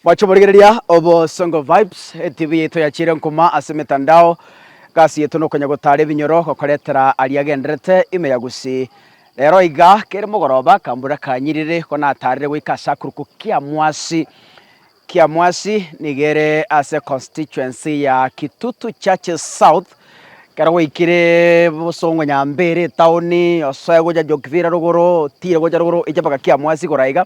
Mwache borigereria Obosongo Vibes, etibi yaito yachiire nkuma ase emetandao. Egasi yaito nokonya gotaara ebinyoro gokoretera aria agenderete ime ya gusii. Rero iga kere mogoroba akambura kanyiriri ko nataarire goika ase akuruku Kiamwasi. Kiamwasi nigo ere ase constituency ya Kitutu Churches South. Ekero gwaikire bosongo nyambere etaoni, osoe gocha Jokivira rogoro, otiire gocha rogoro oiche mpaka Kiamwasi igoro aiga.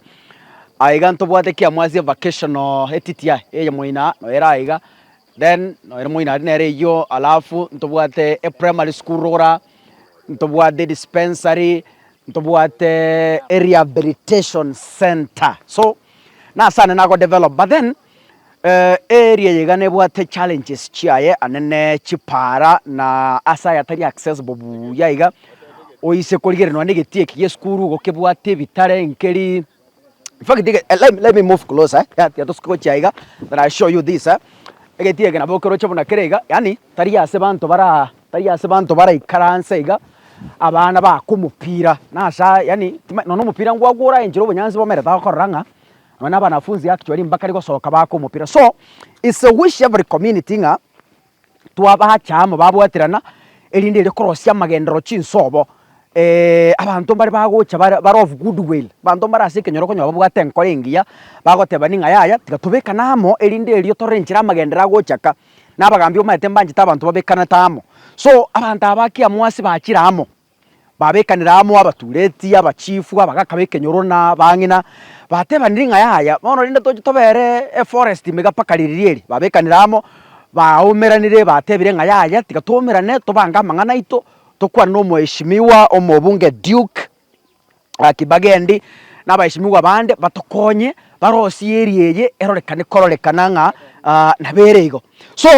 Aiga ntobwate kiamo ase evacation oo etiti aye eye moino aa noyo ere aiga then noyo ere moino aria nere eyio alafu ntobwate eprimary school rogoro aa ntobwate dispensary ntobwate erehabilitation centre so nase ande nagodevelop but then Area yaiga nebwate challenges chiaye ande ne chipara na ase ayatari accessible buya iga oise korigereria nonya na egetii eki gi'esukuru igo kebwate ebitare nkeri infact iga eh let let me move closer eh ya tiga tosuke gochia iga then I'll show you this eh egetii eke nabo okeroche buna kere iga yaani tari ase abanto baraa tari ase abanto baraikaranse iga abana baaka omopira na ase yaani timanyeti nonya omopira ngwagwo oraenchere obonyansi bomerete agokorora ng'a Nonya abanafunzi actually mbakare gosoka baaka omopira so it's a wish every community ng'a twabacha amo babwaterana erinde ere korosia amagenderero chinsobo abanto mbare bagocha bare bare of good will abanto mbare ase ekenyoro okonyora babwate enkoro engiya bagotebani ng'a yaya tiga tobekane amo erinde erio torore enchera amagenderero agochaka na abagambi omaete mbanchete abanto babekanete amo so abanto aba ki amwasi bachire amo Babekanera amo abatuureti, abachifu, abagaaka b'ekenyoro, na abang'ina, bateebanire ng'a yaya bono rende toche tobeere eforesti mega mpaka riria eri. Babekanera amo, baaumeranire, bateebire ng'a yaya tiga twaumerane, tobange amang'ana aito, tokwane n'Omoeshimiwa Omobunge Duke. Gaki bagende nabaesimigwa bande batokonye barosie eria eye erorekane kororekana ng'a nabere igo. So,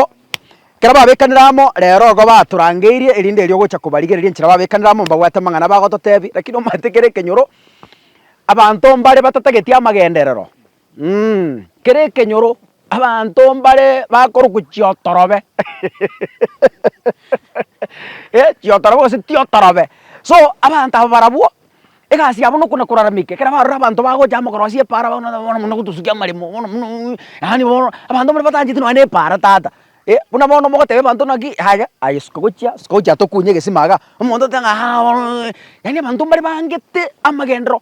ekero babekanire amo rero igo batorangeirie erinde erio ogocha kobarigereria enchera babekanire amo mbabwate amang'ana bagototebia, rakini omanyete kere ekenyoro abanto mbare batatageti amagenderero. Kere ekenyoro abanto mbare bakorokwa chiotorobe eh chiotorobe gose tiotorobe. So abanto aba barabwo egasi yabo nokona koraramika ekero barora abanto bagocha amagorosia epaara bono nabo bono muna gotosukia amaremo bono muna yaani bono abanto mbare batagachete nonye na epaara tata eh buna bono mogotebia abanto naki yaya aye suka gochia suka gochia tokunye egesima iga omonto oteba ng'a aa bono yaani abanto mbare bangete amagenderero.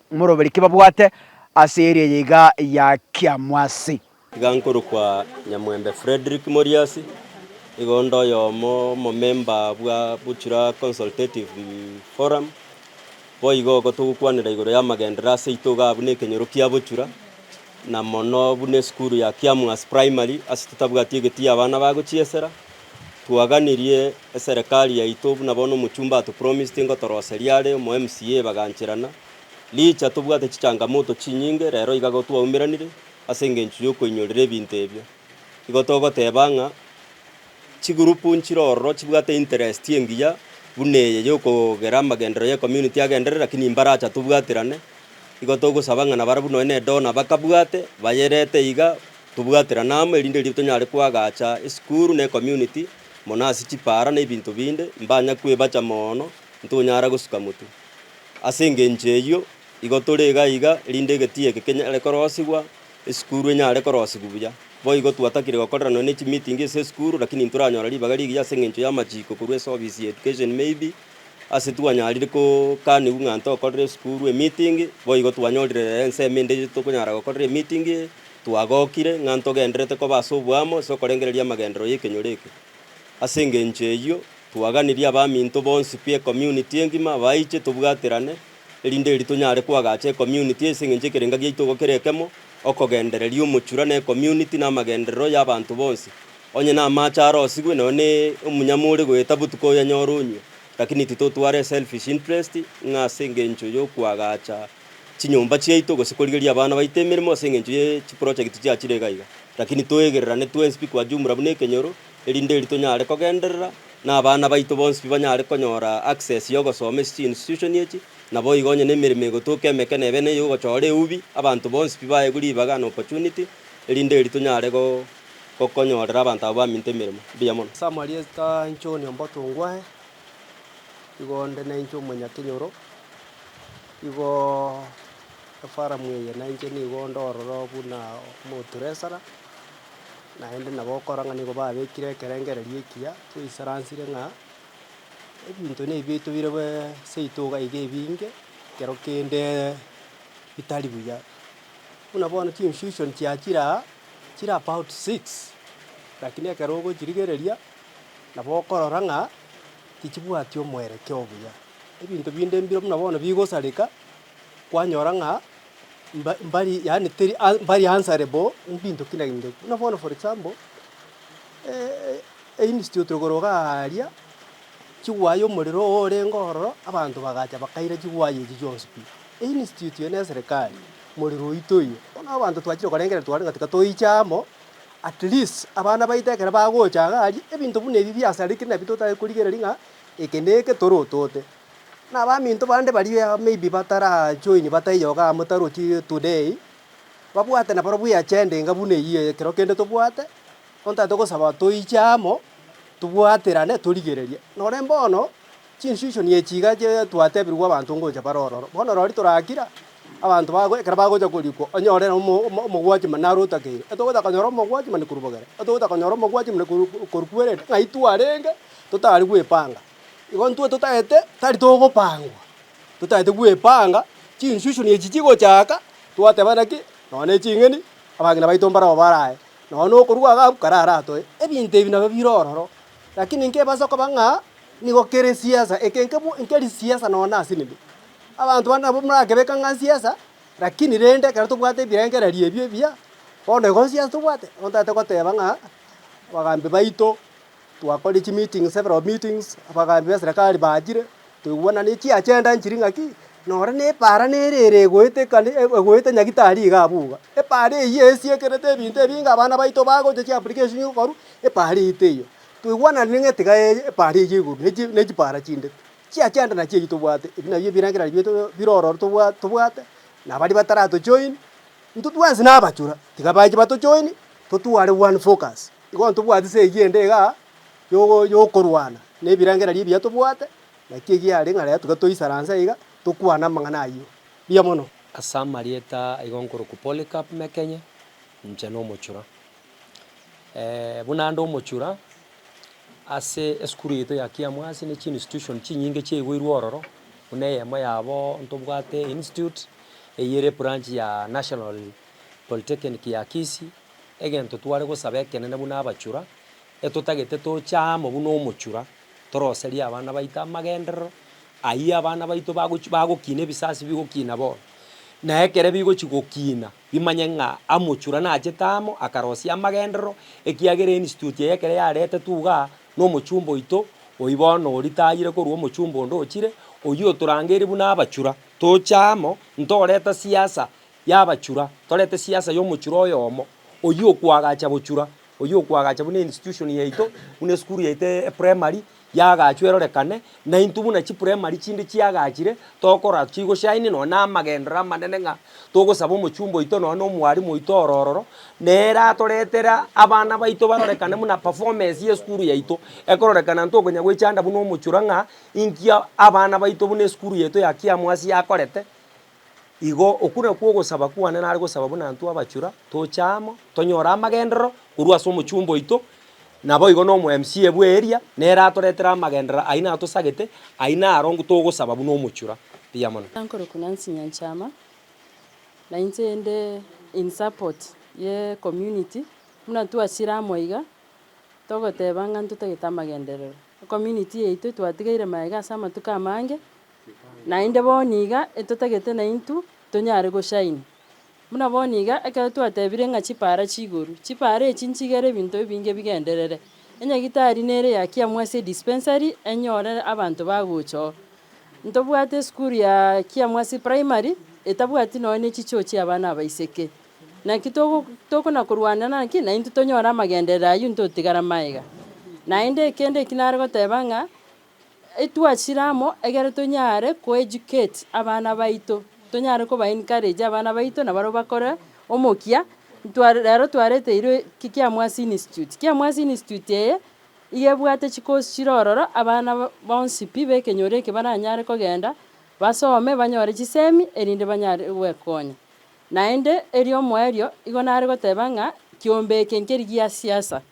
Moroberi ki babwate ase eria yaiga ya kiamwasi? Iga nkorokwa Nyamwembe Fredrick Moriasi, igo onde oyomo omomemba bwa Buchura Consultative Forum. Boigo igo togokwanera igoro y'amagenderero ase aito igaa buna ekenyoro kia Buchura, na mono buna esukuru ya Kiamwasi Primary ase totabwati egeti y'abana bagochiesera, Twaganirie eserekari yaito buna bono omochumba atopromised ngotoroseria are omo MCA bagancherana. Licha tobwate chichangamoto chinyinge rero iga igo twaumeranire ase engencho y'okoinyorera ebinto ebio. Igo togoteba ng'a chigurupu nchire ororo chibwate interest engiya buna eye y'okogera amagenderero y'ecommunity agenderere lakini imbaracha tobwaterane. Igo togosaba ng'a nabarabwo nonya ne donor bakabwate bayerete iga Tobwaterane amo erinde riria tonyare koagacha esukuru na ecommunity, mono ase chipaara na ebinto binde, mbanya kwebacha moono, ntonyara gosuka motu. Ase engencho eyio, igo tore iga iga erinde egetiyo eke kenyare korosigwa, esukuru enyare korosigwa buya. Boigo twatakire gokorerana ne chimeeting ase esukuru, lakini ntoranyora ribaga rigiya ase engencho y'amachiko korwa ase ofisi ya education maybe, ase twanyarire kokanigwa ng'a ntokorere esukuru emeeting, boigo twanyorire rero ensemo ende tokonyara gokorera emeeting eye. Twagokire ng'a ntogenderete koba ase oboamo ase okorengereria amagenderero y'ekenyoro eke. Ase engencho eyio, twaganirie abaminto bonsi pi ecommunity engima baiche tobwaterane, erinde eeri tonyare koagacha ecommunity ase engencho ekerenga giaito igo kere ekemo, okogendereria omochura na ecommunity na amagenderero y'abanto bonsi. Onye namache arosigwe, nonya ne omunyama ore goeta botuko oyanyore onywe, lakini titotware eselfish interest ng'a ase engencho y'okoagacha chinyomba chiaito gose korigereria abana baito emeremo ase engencho ye chiprojekiti chiachire iga iga. Rakini toegererane twensi pi kwa jumla buna ekenyoro, erinde erio tonyare kogenderera, na abana baito bonsi pi banyare konyora access y'ogosoma ase chiinstitution echi, naboigo onye nemeremo egotoka emeke nebe neye ogochora eubi, abanto bonsi pi baegwe ribaga and opportunity, erinde erio tonyare gokonyorera abanto aba baminto emeremo. Mbuya mono. Ase amarieta inche one ombato ngwae, igo onde nainche omonyakenyoro, igo efaramu eye nainche nigo onde ororo buna omoturesara, naende nabo okora ng'a nigo babekire ekerengererio ekiya toisaransire ng'a ebinto na ebi tobire bweeee seito iga iga ebinge, ekero kende bitari buya. Buna bono chiconfusion chiachire aa, chire about six, lakini ekero ogochirigereria. nabo okorora ng'a tichibwati omwerekeo obuya. Ebinto binde mbire buna bono bigosareka, kwanyora ng'a mba mbari yaani teri a mbari answerable ebinto kira kende. Buna bono for example, einstitute igoro iga aaria, chiwayi omorero oyo orenge ororo, abanto bagacha bakaira chiwayi echi chionsi pi. Einstitute eye na eserekari, morero oito oyio, bono abanto twachire korengereria twarenge tiga toiche amo. At least abana baito ekero bagocha iga aria, ebinto buna ebi biasareti nabio totari korigereria ng'a eke na eke toro otote. Na abaminto bande baria maybe batara join bataiyo iga amo tarochi today, babwate na barobwo eagenda enga buna eyio eye ekero kende tobwate, bono tabwate gosaba toiche amo, tobwaterane torigererie. Nore bono, Chinsusuo niechiiga echiria twatebirwe abanto ngocha bare ororo. Bono rori torakira abanto bago ekero bagocha korikwa, onyore nomo omogwachi mane are otakeire. Etogocha konyora omogwachi mane korwa bogere, etogocha konyora omogwachi mane korwa kwerende, ng'a intwarenge totari gwepanga. Igo intwe totaete tari togopangwa, totaete gwepanga, chinsusuo ne echi chigochaka, twatebana ki? Nonya ne ching'eni, abang'ina baito mbarabwo baraye, nonya nokorua iga abwo kare aratoe. Ebinto ebi nabio bire ororo. Lakini inki ebaisa koba ng'a nigo kere siasa? Eke nkeri siasa nonya ase nini? Abanto bande nabo morakebeke ng'a nsiasa, lakini rende ekero tobwate ebirengererio ebi ebiya, bono igo nsiasa tobwate? Bono ntagete goteba ng'a abagambi baito twakorire chimeetings several meetings, abagambi ba serikali bachire, twaigwena ne chiagenda nchiri ng'aki. Noro nepaara nere ere egoeta nyagitari iga abwo iga. Epaara eyio esiekerete ebinto ebinge abana baito bagocha chiapplication gokorwa epaara eyio teiyo. Toigwananire ng'a tiga epaara eyio igoro ne chipaara chinde chia chianda nachi eyio tobwate. Ebi nabio ebirengerero bire bire ororo tobwate na baria batarato join intwe twensi na abachura tiga bache bato join totware one focus. Igo ntobwate se eyio ende iga yogo yokorwana na ebirengererio ebiya tobwate Naki egiare ng'a rero tiga toisaranse aiga tokwane amang'ana ayio. Mbuya mono. Ase amarieta aigo nkorokwa Polycarp Mekenya, inche nomochura. Buna nde omochura, ase esukuru yaito ya Kiamwasi ne chiinstitution chinyinge chiaiboirwe ororo, buna eyemo yabo ntobwate Institute, eyio ere ebranch ya National Polytechnic ya Kisii, egento tware gosaba ekenene buna abachura, etotagete toche amo buna omochura. toroserie abana baito amagenderero ayio abana baito bagochi bagokina ebisasi bigokina bono. Na ekere bigochi gokina, bimanye ng'a amochura nachete amo akarosia amagenderero, ekiagera Institute eye ekero yaretetwe igaa, na omochumba oito oyio bono oritayire korwa omochumba onde ochire, oyio otorangeiri buna abachura, toche amo, ntoreta siasa Y'abachura. Torete siasa y'omochura oyomo, oyio okoagacha bochura, oyio okoagacha buna institution yaito, buna esukuru yaito e primary, yagachwa erorekane, na intwe buna chiprimary chinde chiagachire, tokora chigo shine nonya na amagenderero amanene ng'a togosaba omochumba oito nonya na omwalimu oito oro ororo, nere ratoretere abana baito barorekane buna performance y'esukuru yaito ekororekana intwe okonya goechanda buna omochura ng'a inki abana baito buna esukuru yaito ya Kiamwasi yakorete, Igo okwo nakwo ogosaba kwane nare gosaba buna intwe abachura toche amo, tonyore amagenderero korwa ase omochumba oito, naboigo na omo MC bwe area, nere atoretere amagenderero ayio natosagete, ayio naro nko togosaba buna omochura. Mbuya mono. Nkorokwa Nancy Nyanchama, na inche inde in support ye community, buna twachire amo iga, togoteba ng'a ntotagete amagenderero. Ecommunity yaito twatigeire maega ase amatuko amange, Naende bo niga etotagete naintw tonyare goshaini. Buna bo niga ekero twatebire ng'a chipaara chi'igoro, chipaara echi nchigere ebinto ebinge bigenderere. Enyagitari nere yakiamwa ase dispensary enyore abanto bagochoo. Ntobwate esukuru ya kiamwa ase primary etabwati nonya ne chichoo chia abana abaiseke. Naki togo tokona korwana naki naintw tonyore amagenderero aywo ntotigara maega. Naende ekende eki nare goteba ng'a. Etwachire amo, ekero tonyare koeducate abana baito, tonyare kobaencourage abana baito na barabwo bakore omokia, ntwa rero twareteirwe Kiamwasi Institute. Kiamwasi Institute eye, iga ebwate chicourse chire ororo, abana ba- bonsi pi b'ekenyoro eke baranyare kogenda basome banyore chisemi erinde banyare gwekonya. Naende, erio omoerio, igo nare goteba ng'a kiombe eke nkeri gia siasa.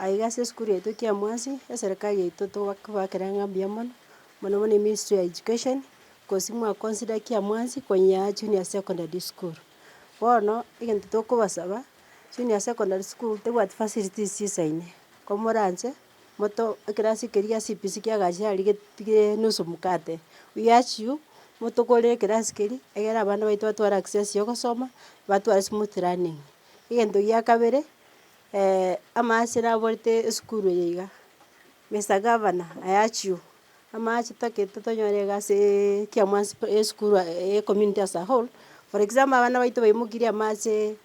aiga ase esukuru yaito ekia mwansi, eserekari yaito toba kobakera ng'a mbuya mono, mono mono eministry ya education, kosi mwa consider ekia mwansi konya junior secondary school. Bono egento tokobasaba, junior secondary school tebwati facilities chisaine, komoranche moto ekerasi keria gia CBC kiagacha riget tigere nusu mkate, we urge you motogorere ekerasi keria, egere abana baito batware access yogosoma, batware smooth learning. Egento gia kabere. amaache naborete esukuru eye iga, Mister Gavana, I urge you, amaache totagete tonyore egasi eeee ekia mwansi pi esukuru eye ecommunity as a whole, for example abana baito baimokirie amaache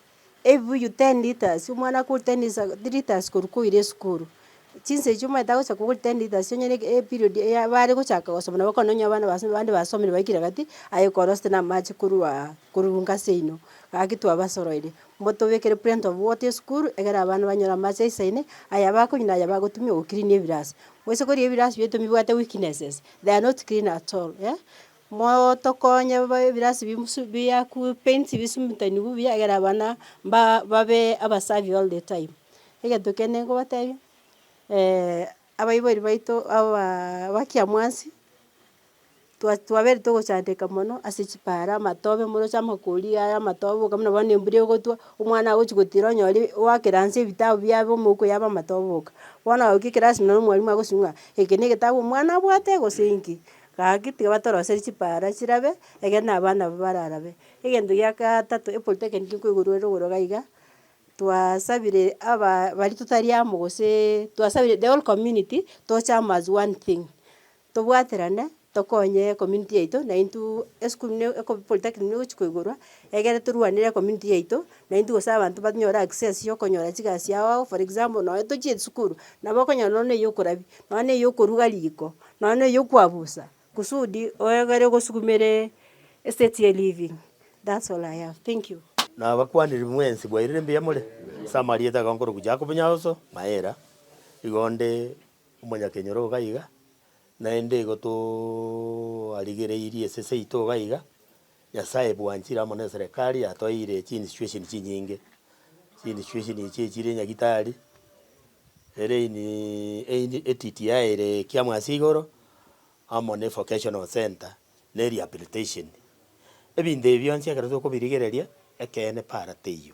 ebibuyu ten litres, omwana akore ten litres ago litres korwa koira esukuru, chinsa echio omanyete agocha kogora ten litres onyore e- eperiod eya bare gochaka gosoma nabo ekero nonye abana base bande basomire baikire gati, aye okorosete na amaache koruaa korwa gasi yaino, gaki twabasoroire. Mbotobekere Plenty of Water Esukuru, egere abana banyore amache aisaine, aya bakonywa na aya bagotumia go clean ebirasi. Moise koria ebirasi bieto mbibwate weaknesses, they are not clean at all eh. Motokonye bobe ebirasi bimusu biaku paints bisumutanigwe buya egere abana mba babe abasafi all the time. Egento kende nkobotebia, abaibori baito abaa abakiamwasi. twa twaberete gochandeka mono ase chipaaro amatobe moroche amakori aya amatobe boka buna bono embura egotwa, omwana agochi gotira onyore oakeranse ebitabu biabe omouko yabe amatobe boka. Bono ogoika ekerasi nonye na omwarimu agosusu ng'a eke na egetabu omwana abwate gose inki, gaki tiga batoroserie chipaara chirabe egere na abana abwo bararabe. Egento gia gatato epolytechnic nkoigurwa ere igoro iga iga, twasabire abaa baria totari amo goseee twasabire the whole community tochame as one thing. Tobwaterane, tokonye ecommunity yaito, naintwe esukuru ne eko polytechnic negochia koigorwa, egere torwanere ecommunity yaito, naintwe gose abanto banyore access ya okonyora chigasi ao ao, for example nonya tochie esukuru, nabo okonyora nonya na eyokorabia, nonya na eyokoruga riko, nonya na eyokwabusa, kusudi oegere ogosukumere estate ya eliving, that's all I have, thank you. Nabakwanire mwensi bwairire mbuya more, ase amarieta ago nkorokwa Jacob Nyaoso, Maera, igo nde omonyakenyoro iga iga, naende igo twarigereirie esese yaito iga iga, Nyasae bwanchire amo neserekari yatoeire chiinstitution chinyinge. Chiinstitution echi echire nyagitari, ere iniiii eini etiti yaeire ekiamo ase igoro, amo ne vocational centre, na erehabilitation. Ebinto ebi bionsi ekero tokobirigereria, ekeene para teiyo.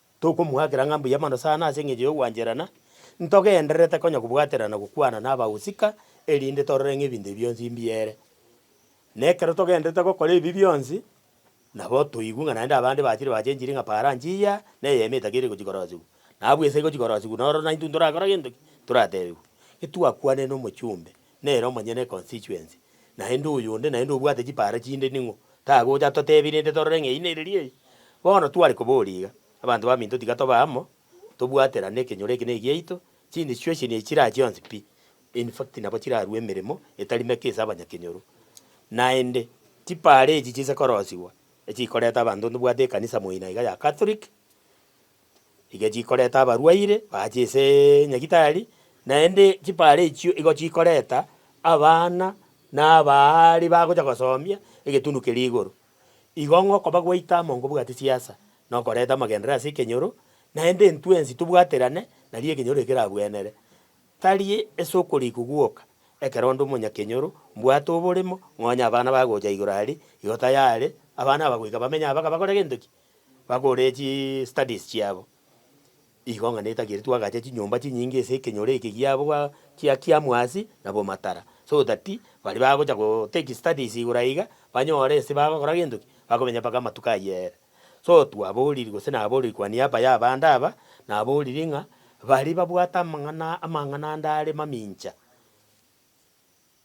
Tokomoakera ng'a mbuya mono sana ase engencho y'ogwancherana, ntogendererete konya kobwaterana gokwana nabagusika, erinde torore ng'a ebinto ebi bionsi mbuya ere. Na ekero togendererete gokora ebi bionsi, nabo toigwe ng'a naende abande bachire bachenchiri ng'a paranchi eya na eyemo etakeire gochia korosigwa, na abwo ase egochia korosigwa noro naintwe ntorakora gento ki? Ntoratebigwe. Getwakwanire nomochumbe, Nere omonyene econstituency, naende oyonde naende obwate chipaara chinde ning'o? Tagocha totebi rende torore ng'a eyi neriri eyi. Bono tware koboria iga, abanto baminto tiga tobe amo, tobwaterane ekenyoro eke negiaito, chiinstitution echi chira chionsi pi, in fact nabo chirarue emeremo etari meke ase abanyakenyoro. Naende chipaara echi chise korosigwa, echikoreta abanto ntobwate ekanisa moino iga ya Catholic. Iga chikoreta abarwaire baache ase Nyagitari, naende chipara echio igo chikoreta abana na abaari bagocha gosoombia egetundu keria igoro. Igo ng'a okoba gwaito amo nkobwate chiasa, na okoreta amagenderero ase ekenyoro, naende intwe ense tobwaterane, nario ekenyoro ekerabwenere. Tari ase okorikwa gwoka, ekero onde omonyakenyoro mbwate oboremo, ng'a onye abana bagocha igoro aria, igo tayare abana aba goika bamenye aba bakore gento ki? Bakore chi studies chiabo. Igo ng'a netagete twagache chinyomba chinyinge ase ekenyoro eke giabo gwa kia kiamwasi na bomatara, so that baria bagocha go take studies igoro aiga, banyore ase bagokora gento ki, bakomenya mpaka amatuko ayio ere. So twaboriri gose naboriri kwa niaba ya abande aba, naboriri ng'a, baria babwate amang'ana amang'ana ande are mamincha.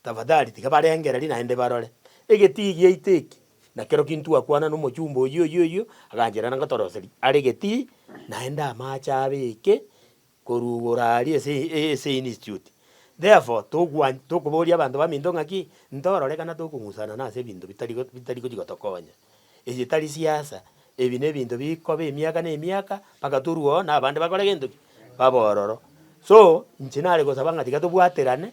Tafadhali tiga barengererie naende barore. Egetii giaito eki nakero kintwakwana nomochumba oyio oyio oyio, aganchera na ngotoroseria are egetii naende amache abe eke korwa igoro aria ase ase institute. Therefore togwa tokoboria abanto baminto ng'aki, ntorore kana tokong'usana nase ebinto bitari bitari gochi gotokonya. Eye tari siasa, ebi na ebinto bikoba emiaka na emiaka mpaka torue oo na abande bakore gento ki? Babe ororo. So, inche nare gosaba ng'a tiga tobwaterane,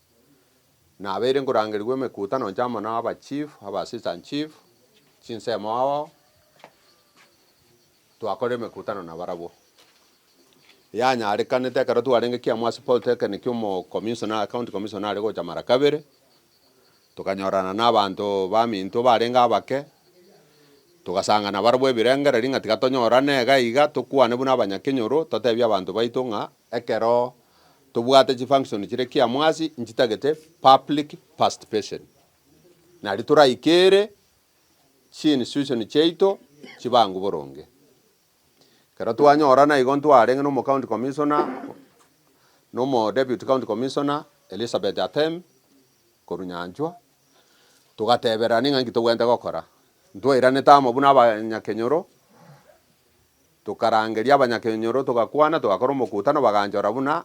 Nabeire nkorangerigwa emekutano inche amo na aba chief, aba assistant chief, chinsemo ao, twakora emekutano nabarabwo. Yanyarekanete ekero twarenge Kiambu ase polytechnic omo commissioner, county commissioner are gocha mara kabere, tokanyorana na abanto ba minto barenge abake, togasanga nabarabwo ebirengereri ng'a tiga tonyorane iga iga, tokwane buna abanya Kenyoro, totebie abanto baito ng'a ekero. Tobwate chi function chire kia mwasi nchitagete public parstipation. Nario toraikere chi institution chiaito chibangu boronge. Ekero twanyora naigo ntwarenge na omo county commissioner na omo deputy county commissioner Elizabeth Atem korwa Nyanchwa togatebererania ng'a inki tobwenerete gokora. Ntwairanete amo buna abanyakenyoro Tokarangeria abanyakenyoro, togakwana, togakora omokutano, baganchora buna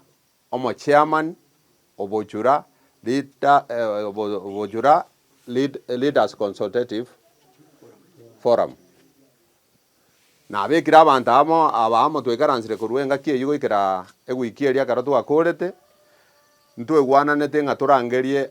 omochairman obochura, leader, obochura, leaders consultative forum. Nabekire abanto amo aba amo twaikaransire korwa engaki eyio goikera ewiki eria ekero twakorete, ntwegwananete ng'a torangerie.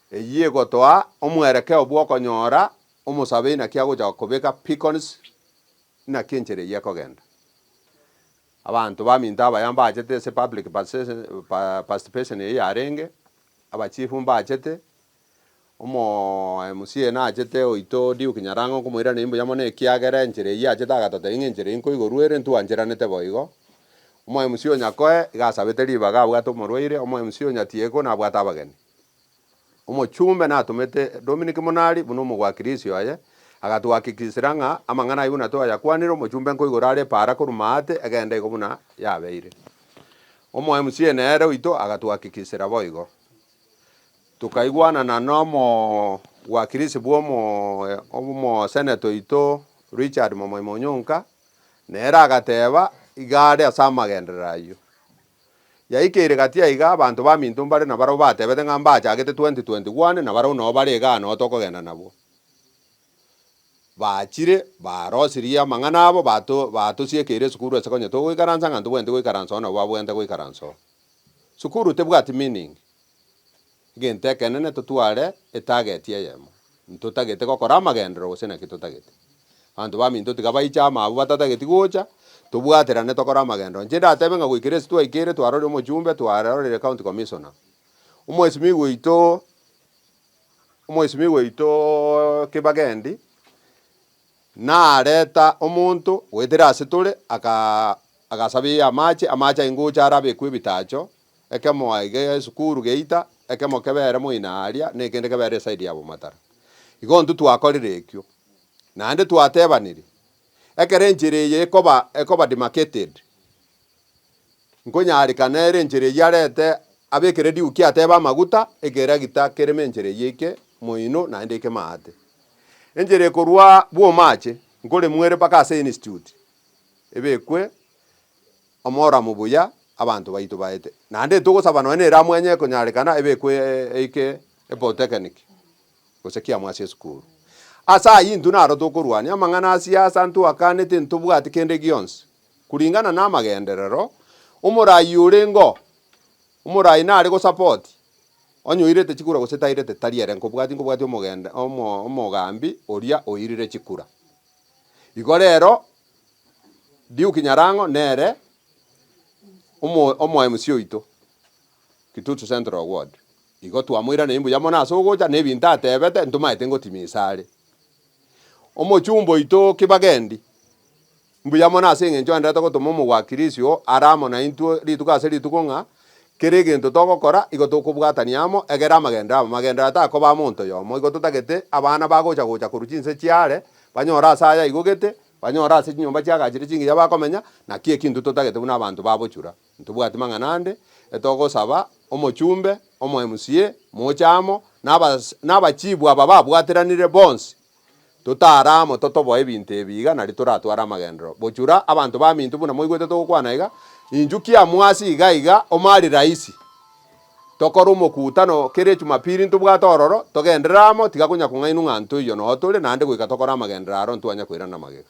Eyio egotoa omwerekeo bw'okonyora omosabe inaki agocha kobeka picons inaki enchera eyio ekogenda. Abanto baminto abaya mbachete ase public participation eyio yarenge, abachief mbachete, omoMCA nachete oito Duke Nyarango nkomoiraneria mbuya mono ekiagera enchera eyio achete agatota eyio ng'a enchera eyio nkoigorwa ere ntwancheranete boigo. OmoMCA o Nyakoe iga asabete ribaga abwate omorwaire, omoMCA o Nyatieko nabwate abageni. Omochumbe natomete Dominic Munari buna omogwakiri-isio aye, agatuhakikishera ng'a amang'ana ayio buna twayakwanire omochumbe nkoigoro are epaara korwa maate egenda igo buna yabeire. Omo MCA nere oito agatuhakikishera boigo. Tokaigwanana nomogwakiri-isio bw'omo omoseneta oito Richard Momoimo Onyonka, nere agateba iga are ase amagenderero ayio. Yaikeire gati aiga, abanto baminto mbare nabarabwo batebete ng'a mbachagete 2020 gwane nabarabwo nao bare igaa nao tokogenda nabwo. Bachire, barosirie amang'ana abo, bato batosiekeire esukuru ase konya togoikaransa ng'a ntobwenereti goikaransa oo nabo babwenerete goikaransa oo. Sukuru tebwati meaning. Egento ekenene totware etageti eyemo, ntotagete gokora amagenderero gose naki totagete. Abanto baminto tiga baiche amo abwo batatageti gocha, tobwaterane tokore amagenderero. Inche ndatebe ng'a goikera ase twaikeire twaroria omochumbe twaroreire county commissioner, omoesimigwa oito omoesimigwa oito Kibagendi nareta omonto goetera ase tore agaa agasabeiya amache, amache aye ngocha arabekwe ebitacho Ekemo aye kegere esukuru geita, ekemo kebere moina aria, na ekende kebere esaidi ya bomataro. Igo intwe twakorire ekio. Naende twatebanirie, Ekero enchera eye ekoba, ekoba demarcated, nkonyaareka nere enchera eyio arete abe ekere diuki atebe amaguta, ekeragita kereme enchera eyio eike moino naende eike maate. Enchera ekorwa Bwomache, nkoremuere mpaka ase Institute, ebekwe Omoramo buya abanto baito baete. Naende togosaba nonya nere amwenye ekonyarekana ebe ekwe eike epolytechnic gose kiamo ase esukuru. Ase ayio intwe naro tokorwania amang'ana a siasa intwe akanete ntobwate kende gionsi kuringana namagenderero omorayi orengeo omorayi nare go support onye oirete chikura gose tairete tari ere nkobwati nkobwati omogende omo omogambi oria oirire chikura igo rero Diuki Nyarango nere omo omoMC oito Kitutu Central ward igo twamoiraneiri mbuya mono ase ogocha na ebinto atebete ntomaete ngotimisa are. Omochumba oito Kibagendi mbuya mono ase eng'encho aenderete gotoma omogwakiri isiko are amo naintwe rituko ase rituko ng'a Kera egento togokora igo tokobwatania amo, egere amagenderero amo. Amagenderero takoba amonto oyomo. Igo totagete abana bagocha gocha korwa chinse chiaare, banyore ase aya igo gete, banyore ase chinyomba chiagachire chingiya bakomenya. Naki eki intwe totagete buna abanto ba bochura. Intobwati mang'ana ande, etogosaba omochumbe, omo MCA, moche amo, na abachibu aba babwateranire bonsi. Totaare amo totoboe ebinto ebi iga nario toratware amagenderero. Bochura, abanto baminto, buna mwaigwete togokwana iga, inchuo kiamwasi iga iga omo ari rahisi. Tokore omokutano kera echumapili ntobwate ororo, togenderere amo, tiga konya kong'ainwa ng'a ntoiyo noyo tore, naende goika tokore amagenderero aro ntwanya koirana magega.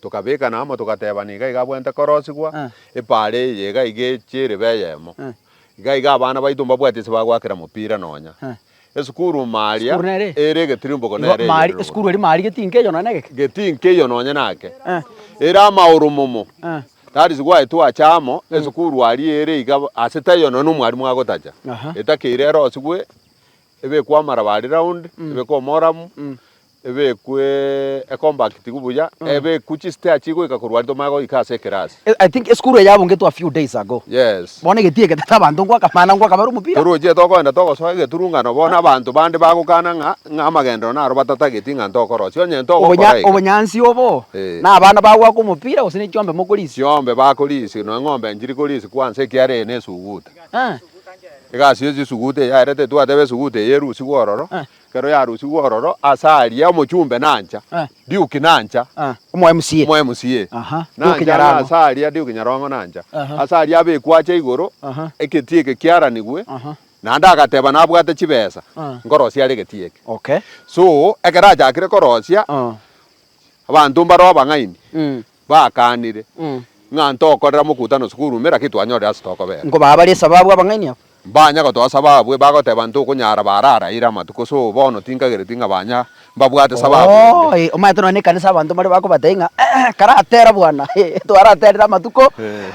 Tokabekana amo togatebana iga iga abwente korosigwa, epaara eye iga iga eche erebe eyemo. Iga iga abana baito mbabwati ase bagoakera mopira nonya. Esukuru ime aria ere egetirimbogo nere eyerire oboronge. Getii nkeiyo nonya nake. Ere amaoro momo. That is why twacha amo, esukuru aria ere iga ase taiyo nonya nomwarimu agotacha. Etakeire erosigwe, ebekwe amaraba aria round, ebekwe omoramu. Ebekwe ecompactigu buya, ebekwe chistea chigoika korwa rito maye goika ase ekerasi. I think esukuru eye yabungetwe a few days ago. Yes. Bono egeti eke tata abanto ngoaka mana ngoaka bare omopira. Toroche tokoenda togosoa egeturungano bono abanto bande bagokana ng'a ng'a amagendero naro batatageti ng'a ntokorosia onye ntogokora Obonya eke. obonyansi obo Eh. na abana bagoaka omopira gose ne chiombe mokorisia. Chiombe bakorisia nonya eng'ombe nchiri korisia kwa nse ekiagera eye nesuguta. Eh. Egasi ye chisuguta eyaerete twateba esuguta eye erusigwe ororo. Eh. Ekero yarusigwe ororo ase aria, omochumbe nancha, Duke nancha, Omo MCA, Omo MCA aha, Duke nancha, na Nyarango. ase aria, Duke Nyarongo nancha, Aha. ase aria abekwa ache igoro, Aha. egetie eke kiaranigwe, Aha. naende agateba nabwate chibesa, Ah. nkorosia are egetie eke. Okay. So, ekero achakire korosia, Ah. abanto mbare abang'aini, Mm. bakaanire, ng'a ntokorera mokutano isiko orume, lakini twanyorire ase tokobera. Nkobaa bare esababu abang'aini aba. Mbanya gotoa sababu e, bagoteba ntokonyara bararaire amatuko, so bono tinkagereti ng'a banya mbabwate sababu ende. Oo, ee, omanyete nonya nekanisa abanto mbare bakobatebia ng'a, Ee, karatera bwana, ee, twaraterire amatuko,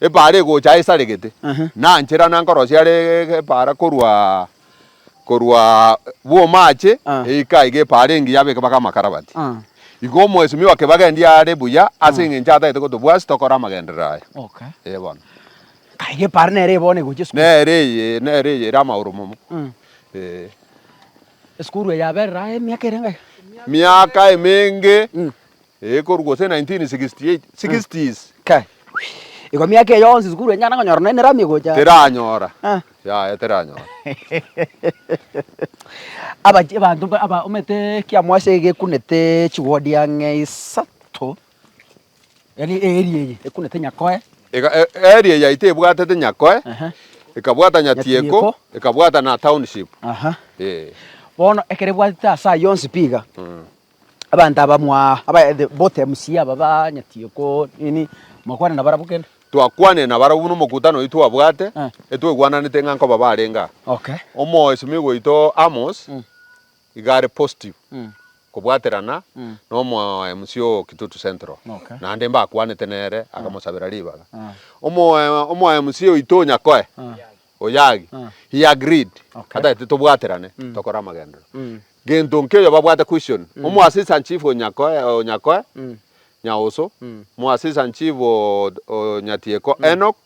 Epaara egocha esaregete, nanchera nankorosia are epaara korwa korwa bw'omaache eika iga epaara engiya abe ekebago amakarabati. Igo omwesimi o kebago endi are buya ase engencho atagete kotobwasi tokore amagenderero aya. Ee bono. Nka iga epaara nere eye bono egocha esukuru. Nere eye, nere eye ere amagoro momo. Ee. Esukuru eye yaberire aye emiaka ere ngaiga? Miaka emenge Ee, korwa gose 1968, sixties. Kai, igo miaka eye yonsi sukuru enyare konyora nonya ne rami egocha? Teranyora. Ah. Yaya, teranyora. Abachi- abanto ba- aba- omanyete kia mwase gekunete chiwodi ang'e isato, yaani eeri eye ekunete nyakoe, Ega, e- eri eye yaito ebwatete Nyakoe, Ehe. ekabwata Nyatieko, Nyatieko. ekabwata na Township. aha. Ee. Bono ekero ebwatete ase ayio yonsi pi iga, Abanto abamwa abayaete bote MC aba banyeti ko nini mwakwane na barabwo kende. Twakwanire na barabwo buna omokutano oito twabwate Eh. etwegwananete ng'a nkoba barenge aa. Okay. Omoesimigwa oito Amos Mm. iga are positive Mm. kobwaterana Mm. na omo MC o Kitutu Central. Okay. Naende mbakwanete nere akamosabera ribaga. Ah. Omo omo MC oito o Nyakoe Ah. Oyagi Ah. he agreed Okay. atagete tobwaterane tokore amagenderero. Mm. Gento nkeyo babwate question omo assistant chief o Nyakoe, Nyaoso, omo assistant chief o Nyatieko, Enock,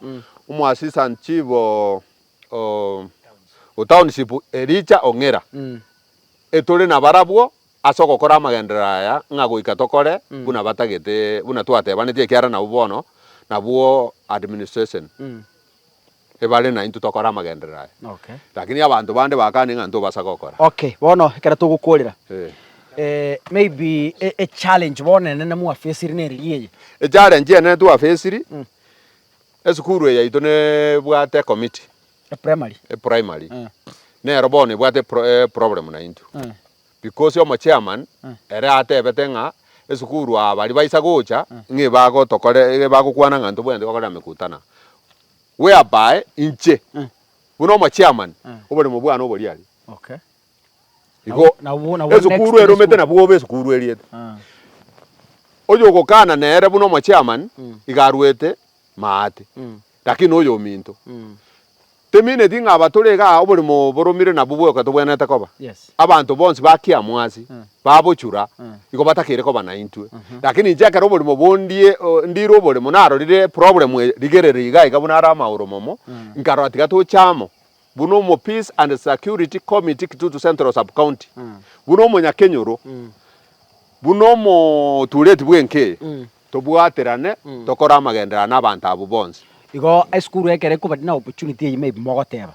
omo assistant chief o township, Elijah Ong'ira. Etore nabarabwo ase ogokora amagenderero aya ng'a goika tokore buna batagete buna twatebanetie ekiara nabwo bono nabwo administration. ebare naintwe tokore amagenderero aya. Lakini abanto bande bakane ng'a ntobasa gokora. Okay, bono ekero togokorera, maybe echallenge bono enene mwa facire neri ria eye? Echallenge enene twa facire, esukuru eye yaito nebwate ecommittee, Eprimary. eprimary, nero bono ebwate eproblem naintwe. Because omochairman ere atebete ng'a esukuru aba baria baisa gocha ng'a ebagotokorera, ebagokwana ng'a ntobwenerete gokorera mekutana. whereby inche, buna omochairman, oboremo bwane obori aria. Okay. Igo Nabo- nabo- nabo next esukuru day eromete school. nabwo obe esukuru eriete. Ah. Oyo ogokana nere buna omochairman iga arwete maate, Mm. lakini oyo ominto. Mm. Temineti ng'a aba tore igaa oboremo boromire nabwo bwoka tobwenerete koba. Yes. Abanto bonsi ba Kiamwasi babochura, igo batakeire koba naintwe. Lakini inche ekero oborimo bondie ndire oborimo narorire eproblemu eye, rigereria iga iga buna are amagoro momo, nkarora tiga toche amo buna omo Peace and Security Committee Kitutu Central Sub-County, buna omonyakenyoro, buna omotureti bw'enka eye, tobwaterane tokore amagenderero na abanto abwo bonsi. Igo esukuru ekero ekoba na opportunity eyio maybe mogoteba,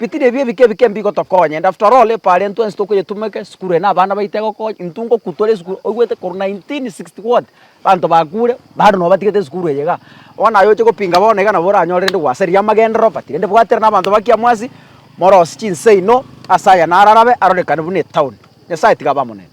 Bitiri ebi ebike ebike mbigotokonya. And after all epo aria ntwensi tokoyetuma eke esukuru eye na abana baito egokonya. Intwe ngoku tore esukuru oigwete korwa 1960 what banto bakure bado nobo batigete esukuru eye iga. Bono aye oche gopinga bono iga nabo oranyore rende gwasa eria amagenderero but rende bwatera na abanto ba kiamwasi morosie chinsaino ase aya nararabe arorekane buna etown. Nyasaye tiga abe amo nere.